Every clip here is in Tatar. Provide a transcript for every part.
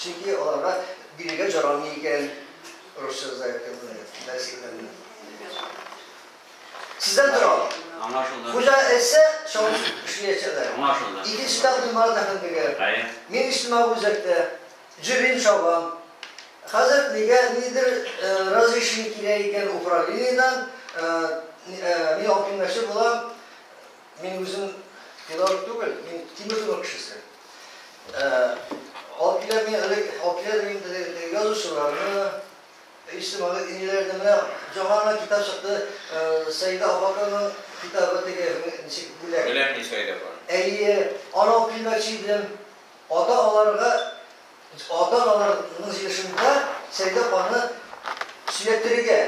Чөнки аларга бирергә җарамый икән русча заявканы, дәреслекләрне. Сездән тора. Аңлашылды. Хуҗа әйтсә, чалып эшләячәкләр. Аңлашылды. Икенче тәкъдим Марат әфәндегә. Әйе. Мин иҗтимагый үзәктә җөрим, чабам. Хәзер мигә ниндидер разрешение кирәк икән управлениедән, мин алып килмәкче булам. Мин үзем педагог түгел, мин Тимиртуның кешесе. Алып килә мин элек, алып килә мин теге язучыларны, иҗтимагый иниләрне менә жаңа гына китап чыкты, Сәйдә Афакованың китабы теге ничек бүләк. Бүләк ни Сәйдә апа? Әйе, аны алып килмәкче идем. Ата-аналарга ата-аналарның җыешында Сәйдә ханны сөйләттерергә,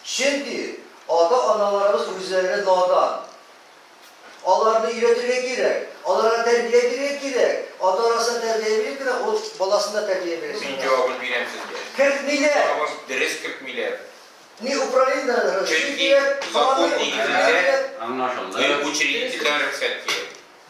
чөнки ата-аналарыбыз үзләре надан. Аларны өйрәтергә кирәк, аларга тәрбия бирергә кирәк. Ата арасына тәрбия биреп кенә ул баласын да тәрбия бирә. Мин җавабын бирәм сезгә. Кертмиләр! Җавабын дөрес кертмиләр. Ни Украинадан разрешение кирәк, Чөнки закон нигезендә, аңлашылды. Өй учредителдән рөхсәт кирәк.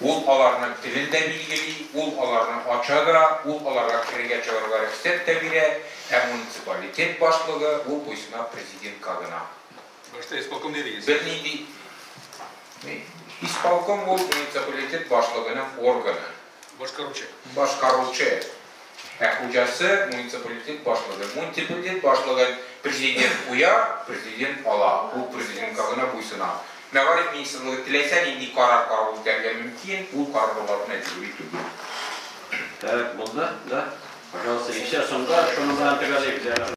Ул аларның телен дә билгели, ул аларны ача да, ул аларга керергә-чыгарга рөхсәт тә бирә, ә муниципалитет башлыгы, ул буйсына президентка гына. Башта исполком дидегез. Бернинди Исполком ул муниципалитет башлыгының органы. Башкаручы. Башкаручы. Ә хуҗасы, муниципалитет башлыгы. Муниципалитет башлыгын президент куя, президент ала. Ул президентка гына буйсына. Мәгариф министрлыгы теләсә нинди карар кабул итәргә мөмкин, ул карарлар мәҗбүри түгел. Так, булды, да? Пожалуйста, икенче сумка, шуның белән төгәллик.